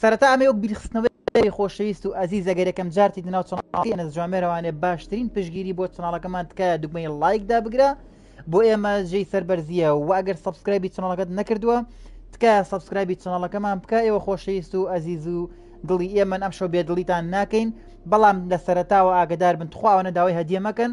سەرەتا ئەمەی وەک بیرخستنەوەی کاری خۆشەویست و ئەزیز ئەگەر یەکەم جار تیت ناو چەناڵەکەی ئەنەس جوامێر ئەوانێ باشترین پشگیری بۆ چەناڵەکەمان تکایە دوگمەی ڵایک دابگرە بۆ ئێمە جێی سەربەرزیە و ئەگەر سەبسکرایبی چەناڵەکەت نەکردووە تکایە سەبسکرایبی چەناڵەکەمان بکە ئێوە خۆشەویست و ئەزیز و دڵی ئێمەن ئەم شەو بێدڵیتان ناکەین بەڵام لە سەرەتاوە ئاگدار بن تخواوە نەداوای هەدیە مەکەن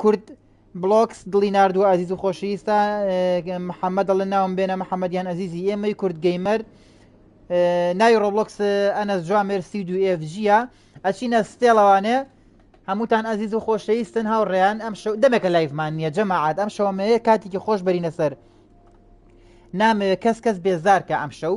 کورد بڵۆکس دڵی ناردووە ئازیز و خۆشەویستە محەممەد دەڵێ ناوم بێنە محەممەدیان ئەزیزی ئێمەی کورد گەیمەر ناوی ڕۆبلۆکس ئەنەس جوان مێرسی دو ئێفجیە ئەچینە ستێڵەوانێ هەمووتان ئازیز و خۆشەویستن هاوڕێیان ئەم شەو دەمێکە لایفمان نییە جەماعات ئەم شەوەمەیە کاتێکی خۆش بەرینە سەر نامەوێت کەس کەس بێزارکە ئەم شەو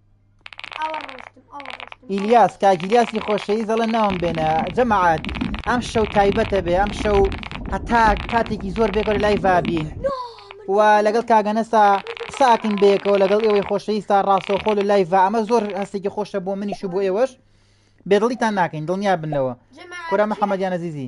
ئیلیاس کاگیلیاسی خۆشەویست دەڵێ ناوم بێنە جەماعات ئەم شەو تایبەتە بێ ئەم شەو هەتا کاتێکی زۆر بێگەۆ لای ڤابین و لەگەڵ کاگەنەسا ساکن بێکەوە لەگەڵ ئێوەی خۆشەویستا ڕاستەوخۆ لە لای ئەمە زۆر هەستێکی خۆشە بۆ منیش بۆ ئێوەش بێدڵیتان ناکەین دڵنیا بنەوە کورە محەممەدیان نەزیزی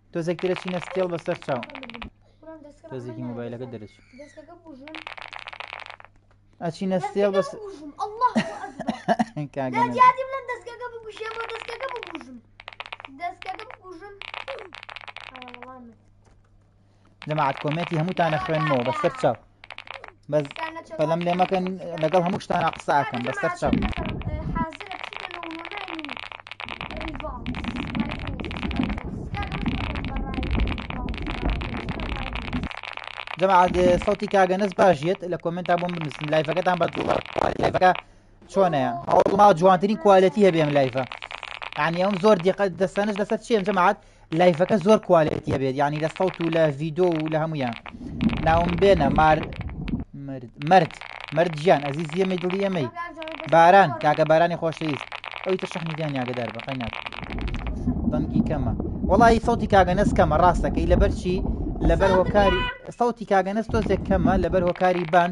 تۆزێک ترە چینە ستێڵ بەسەر چاو تۆزێکی مۆبایلەکە دەرچ ئەچی نەستێڵ بەس جەماعەت کۆمێنتی هەمووتانە خوێنمەوە بە سەر چاو بەس پەلەم لێ مەکەن لەگەڵ هەموو شتانە قسە ئەکەم بە سەر چاو جەماعەت سەوتی کاگەنەس باشیت لە کۆمنتا بۆم بنووسن لایفەکەتان بە لایفەکە چۆنەیە هەوڵما جوانترین کوالەتی هەبێم لایفە یعنی ئەم زۆر دیقەت دەستانش لەسەر چێن جەماعەت لایفەکە زۆر کوالێتی هەبێت یعنی لە سەوت و لە ڤیدۆ و لە هەمویان ناوم بێنە مار مرد مرد گیان ئەزیز یەمەی دڵی ئەمەی باران کاکە بارانی خۆشەویست ئەوی تر شەحنی گیان یاگەدار بەقای ناک دەنگی کەمە وڵی سەوتی کاگەنەس کەمە ڕاستەکەی لەبەرچی لەبەر هۆکاری سەوتی کاگەنەس تۆزێک کەمە لەبەر هۆکاری بان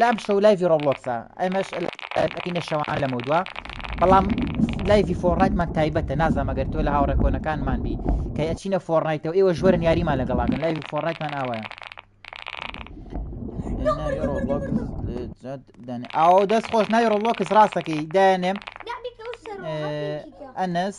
لام شەو لایڤی ڕۆبلۆکسە ئەمەش ئەکەینە شەوان لەمە دووە بەڵام لایڤی فۆڕایتمان تایبەتە نازانام ئەگەر تۆ لە هاوڕێ کۆنەکانمان بی کە ئەچینە فۆڕنایتەوە ئێوە ژوەرن یاریمان لەگەڵاکەن لایڤی فۆڕایتمان ئاوایە ئاو دەست خۆش ناوی ڕۆبلۆکس ڕاستەکەی دایانێم ئەنس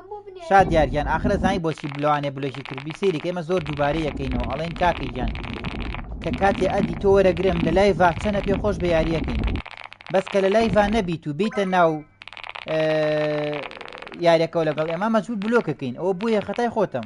شاد دیار گیان ئاخر ئەزانی بۆچی بلەوانێ بلۆکی کرد بی سەیری کە ئێمە زۆر دووبارەی یەکەینەوە ئەڵێن کاکە گیان کە کاتی ئەدی تۆ وەرەگرم لە لای ڤاچەنە پێ خۆش بە یاریەکەین بەس کە لە لای ڤان نەبیت و بیتە ناو یاریەکەەوە لەگەڵ ئێمە مەجبور بلۆکەکەین ئەوە بۆیە خەتای خۆتم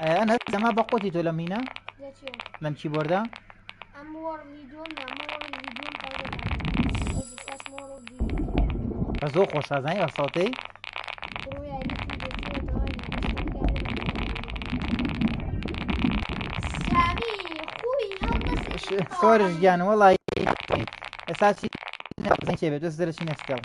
ئەیان هەر دەما بە قوتی تۆ لە مینە لەم چی بۆردا بە زۆر خۆشازانی بە سەڵتەی سۆرش گیان وەڵی ئێستا چی بێت دەست دەرەچی نەستەوە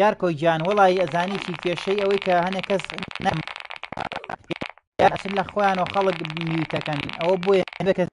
یار کۆی گیان وەڵی ئەزانی چی کێشەی ئەوەی کە هەنێک کەس نەم لە خۆیان و خەڵک میوتەکەن ئەوە بۆیە کەس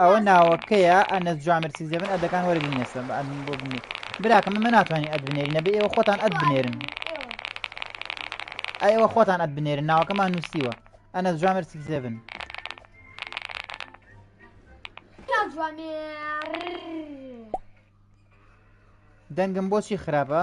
ئەوە ناوەکەیە ئەنەس جوامێر سیزدە بن ئەدەکان وەرە بینەسە بە ئەدمن بۆ بنێ براکەم ئەمە ناتوانین ئەد بنێرین نەبێ ئێوە خۆتان ئەد بنێرن ئەوە خۆتان ئەد بنێرن ناوەکەمان نووسیوە ئەنەس جوامێر سیزدە بن دەنگم بۆچی خراپە؟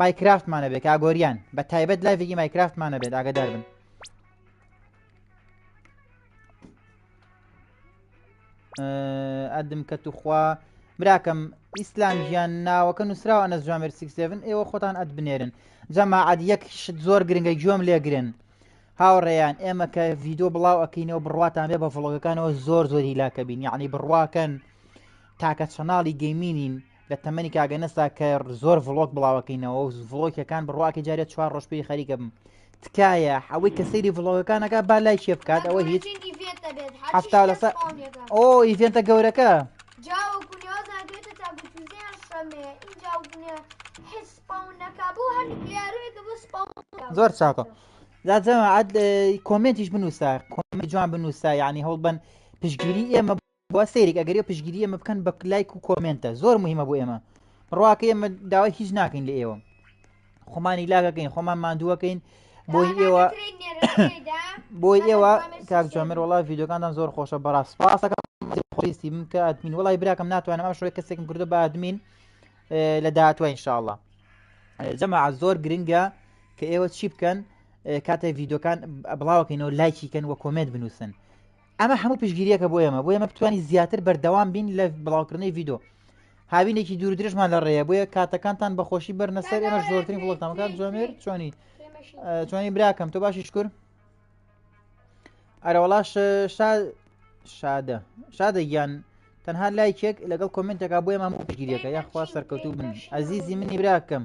مایکرافتمان ئەبێ کاگۆریان بە تایبەت لایڤێکی مایکرافتمان ئەبێت ئاگادار بن ئەدم کە توخوا براکەم ئیسلام ژیان ناوەکە نووسراوە نە جوامێر 67 ئێوە خۆتان ئەت بنێرن جەماعات یەک شت زۆر گرنگە گوێم لێگرن هاوڕێیان ئێمە کە ڤیددیو بڵاو ئەکەینەوە بڕاتان بێ بە فڵۆگەکانەوە زۆر زۆری لاکەبین یعنی بڕواکەن تاکە چەناڵی گەیمینین لە تەمەنی کاگەنەسا کە زۆر ڤڵۆک بڵاوەکەینەوە و ڤڵۆکەکان بڕواکە جارێت چوار ڕۆژ پێی خەریکە بم تکایە ئەوەی کە سەیری ڤڵۆگەکانەکە با لای چێ بکات ئەوە هیچ هەفتا لەسە ئۆ ئیڤێنتە گەورەکە زۆر چاکە داجەمە عاد کۆمنتیش بنووسە کۆمی جوان بنووسە یعنی هەوڵبەن پشگیری ئێمە با سەیرێک ئەگەرێ پشگیری ئەمە بکەن بە لایک و کۆمنتە زۆر مهمە بۆ ئێمە ڕواکە ئێمە داوای هیچ ناکەین لە ئێوە خۆمانی لاگەکەین خۆمان مادووەکەین بۆی ئێوە بۆی ئێوە کاک جامر وڵا یددیوەکانتان زۆر خۆشە بەڕاست پاسەکە خۆیستی من کە ئەدمین وڵی براکەم ناتوانم ئەم شوێ کەسێکم کردو بە ئەدمین لە داهاتوە انشاءله جەما زۆر گرنگە کە ئێوە چی بکەن کاتێک یددیوەکان بڵاوکەینەوە لایکیکەن وە کۆمێت بنووسن ئەمە هەموو پشگیریەکە بۆ ئێمە بۆ ئێمە بتوانین زیاتر بەردەوام بین لە بڵاوکردنەوەی ڤیدۆ هاوینێکی دوور درێژمان لە ڕێە بۆیە کاتەکانتان بەخۆشی بەرنەسەر ئێمە زۆرترین فڵۆتامەکان جوامێر چۆنی چۆنی براکەم تۆ باشی شکر ئەرەوەڵاش شادە شادە گیان تەنها لایکێک لەگەڵ کۆمنتێکا بۆیە مامۆ پشگیریەکە یاخوا سەرکەوتوو بن ئەزیزی منی براکەم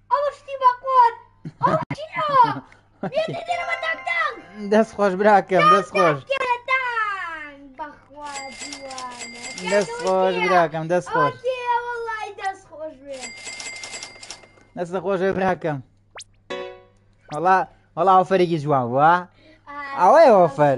ئەوە شتی بە قۆر دەست خۆش براکەم دەست خۆش دەست خۆش براکەم دەست خۆش دەست خۆش براکەم وڵا وڵا ئەوفەرێکی جوان وە ئەوەیە ئەوفەر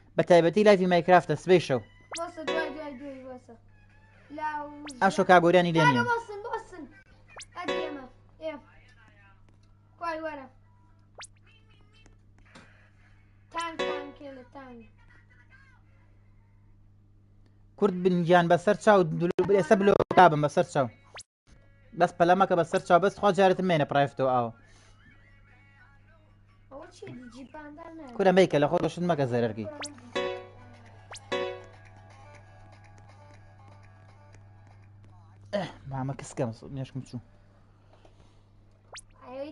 بە تایبەتی لایڤی مایکرافتە سبەی شەو بۆسە دوای دوای دوای بۆسە لاو ئاشۆ کاگۆریانی لێ نییە بۆسن بۆسن ئەدی ئێمە ئێ کوای وەرە تانک تانک لە تانک کورد بنگیان بەسەر چاو دلو ئێستا بلۆکابم بەسەر چاو بەس پەلە مەکە بە سەر چاو بەس خوا جارێتم مێنە پرایفتۆ ئاو کورە مەیکە لە خۆ دەشت مەکە زەرەرگی مامە کەسکەم نێشکم چوو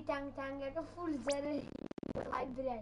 تانگ تانگەکە فول زەرەر برای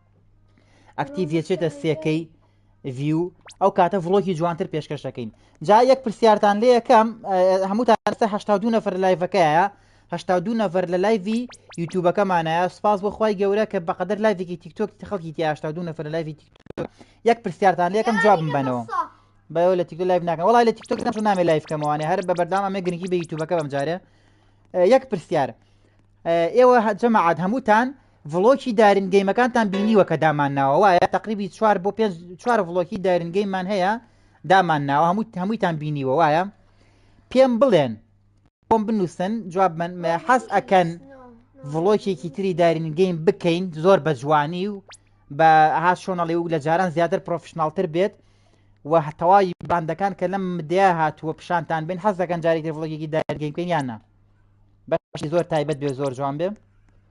ئەکتیڤ یەچێتە سێکەی ڤیو ئەو کاتە ڤڵۆکی جوانتر پێشکەش دەکەین جا یەک پرسیارتان لێ یەکەم هەموو تاستە هشتا دو نەفر لایڤەکەیە هشتا دو نەفر لە لایڤی یوتوبەکەمانایە سپاس بۆخوای گەورە کە بەقدر لایڤێکی تیکتۆک خەڵکی تیاشتا دو نەفر لە لایڤی تیکتۆک یەک پرسیارتان لێ یەکەم جواب بنەوە بەەوە لە تیکتۆ لایڤ ناکەم وڵای لە تیکتۆک نەچون نامێ لایف کەمەوانێ هەر بە بەردام ئەمێ گرنگی بە یوتوبەکە بەم جارێ یەک پرسیار ئێوە جەماعات هەمووتان ڤڵۆکی دارین گەیمەکانتان بینیوە کە دامان ناوە وایە تقریبی چوار بۆ پێنج چوار ڤڵۆکی دارین گەیمان هەیە دامان ناوە هەموو هەموویتان بینیوە وایە پێم بڵێن بۆم بنووسن جواب من حەز ئەکەن ڤڵۆکێکی تری دارین گەیم بکەین زۆر بە جوانی و بە ها شۆنەڵی و لە جاران زیاتر پرۆفشنناڵتر بێت و هەتەوای باندەکان کە لەم مدیا هاتووە پیشانتان بین حەز دەکەن جارێکی ڤڵۆکێکی دارین گەیم بکەین یانە بەشی زۆر تایبەت بێ زۆر جوان بێ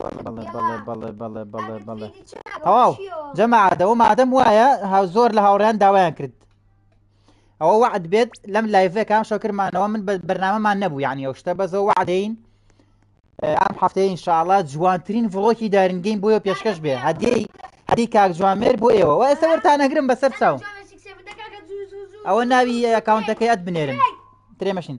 بەڵێ بەڵێ بەڵێ بەڵێ بەڵێ بەڵێ بەڵێ تەواو جەماعادەوە مادەم وایە زۆر لە هاوڕیان داوایان کرد ئەوە وعد بێت لەم لایڤەکان شەکرمانەوە من بەرنامەمان نەبوو یعنی ئەو شتە بەزەوە وعدەین ئەم هەفتەیە انشاءڵە جوانترین ڤڵۆکی دارنگین بۆیە پێشکەش بێ هەدیی هەدی کاک جوامێر بۆ ئێوە وە ئێستا وەرتان نەگرم بەسەر چاو ئەوە ناوی ئەکاونتەکەی ئەت بنێرن ترێمەشین.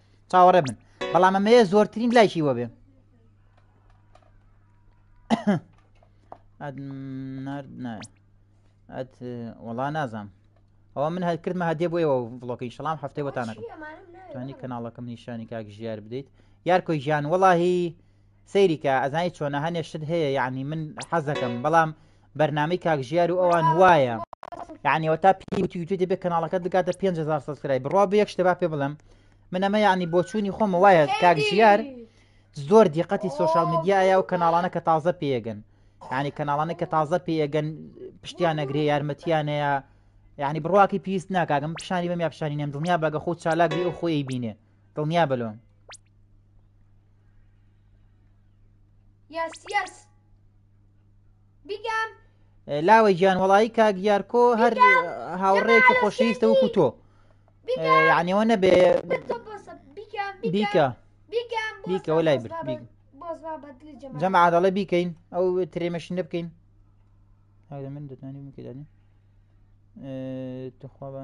چاوەڕێ بن بەڵام ئەمەیە زۆرترین لایکی وەبێ ئەت وەڵا نازام ئەوە من هەر کردمە هەدێ بۆیەوە بڵۆکەی شەڵام هەفتەی بۆتانەکەم توانی کەناڵەکەم نیشانی کاک ژیار بدەیت یار کۆی ژیان وەڵاهی سەیریکە ئەزانی چۆنە هەنێ شت هەیە یعنی من حەزەکەم بەڵام بەرنامەی کاک ژیار و ئەوان وایە یعنی وەتا پێی وتی وتی دەبێت کەناڵەکەت بگاتە 5000 سەسکرای بڕوا بە یەک شتە با پێ بڵێم من ئەمە یعنی بۆچوونی خۆمە وایە کاک ژیار زۆر دیقەتی سوۆشال میدیایە و کەناڵانە کە تازە پێگەن یعنی کەناڵانە کە تازە پێگەن پشتیان نەگرێ یارمەتیانەیە یعنی بڕواکی پێویست ناکگەم پیشانی بەم یا پیشانی نێم دڵنیا بەگە خۆ چالاکبی و خۆی بینێ دڵنیا بە لۆم یاس یاس بیگام لاوە گیان وەڵی کاک یارکۆ هەر هاوڕێکی خۆشەویستە وەکو تۆ یانەوە نەبێ بیکە بیکەەوە لای برد جەمە عادڵە بیکەین ئەو ترێمەشین بکەین هەر من دەتوانانی بکەدانی تخوا بە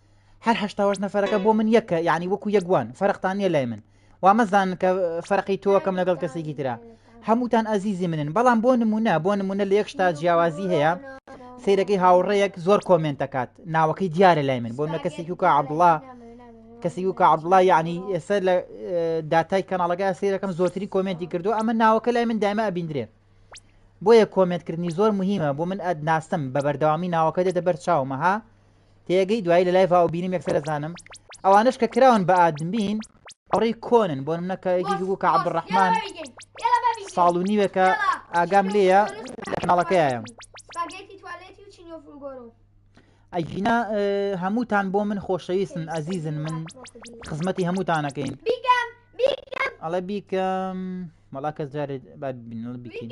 هەر هەشتا وەش نەفەرەکە بۆ من یەکە یعنی وەکو یەکوان فەرقتان نیە لای من وا مەزان کە فەرقی تۆکەم لەگەڵ کەسێکی تررا هەمووتان ئازیزی منن بەڵام بۆ نمونە بۆ نمونە لە یەک شتا جیاوازی هەیە سیرەکەی هاوڕەیەک زۆر کۆمنت دەکات ناوەکەی دیارە لای من بۆ نە کەسێکی وکە عبدڵە کەسی وکە عبدڵە یعنی ئێستا لە داتای کەناڵەکە سیرەکەم زۆتری کۆمنتی کردو ئەمە ناوەکە لای من دایمە ئەبیندرێ بۆیە کۆمنتکردنی زۆر مهمە بۆ من ئەدناسم بە بەردەوامی ناوەکە دێتە بەر چاومەها تێگەی دوایی لە لایڤاو بینیم یەکسەر ئەزانم ئەوانەش کە کراون بە ئادمین ئەوڕی کۆنن بۆ منە کە یەکێکی بوو کە عەبدڕەحمان ساڵ و نیوێکە ئاگام لێیە لە کەناڵەکەیەم ئەگینا هەمووتان بۆ من خۆشەویستن ئازیزن من خزمەتی هەمووتانەکەین ئەڵە بیکەم مەڵا کەس جارێت با بینڵ بیکەین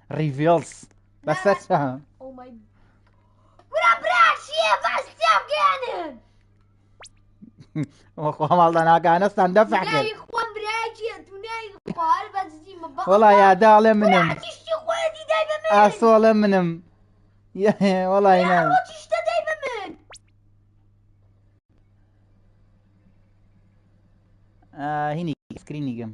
ڕیڤێڵس بەسەر چاوم خۆماڵدا ناگانەستان دەفع کرد وەڵا یادا ئەڵێ منم ئاسۆڵە منم وەڵی ناوە هینی سکرینی گەم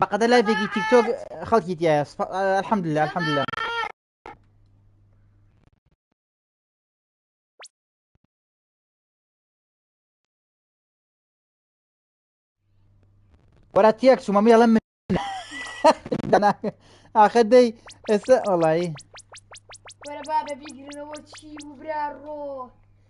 بەقەدە لایڤێکی تیکتۆک خەڵکی تایە الحمدلله الحمدلله وەرە تێک چوومە مێڵە من ئاخە دەی ئێستا ئەڵی وەرە بابە بیگرنەوە چی و برا ڕۆ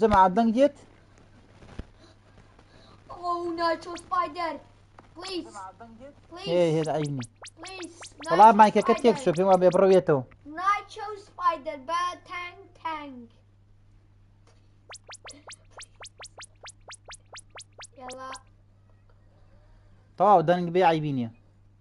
جەماعە دەنگ دێت هێز عینی وڵا مایکەکە تێک شو پێم وا بێ بڕوێتەوە تەواو دەنگ بێ عیبی نیە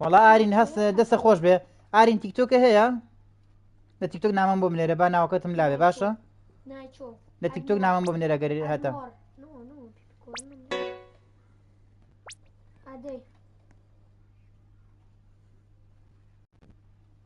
وەڵا ئارین هەست دەستە خۆش بێ ئارین تیکتۆکە هەیە لە تیکتۆک نامم بۆ منێرە با ناوکەتم لاێ باشە لە تیکتۆک نامم بۆ منێرە گەری هەتا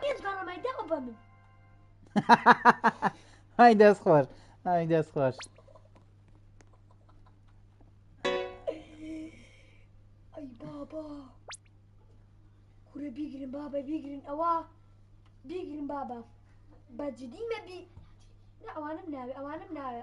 پێنج گەڕەمای دەوە بە من های دەست خۆش های دەست خۆش ئەی بابا کورە بیگرن بابە بیگرن ئەوە بیگرن بابە بەجدی مەبی ئەوانم ناوێ ئەوانم ناوێ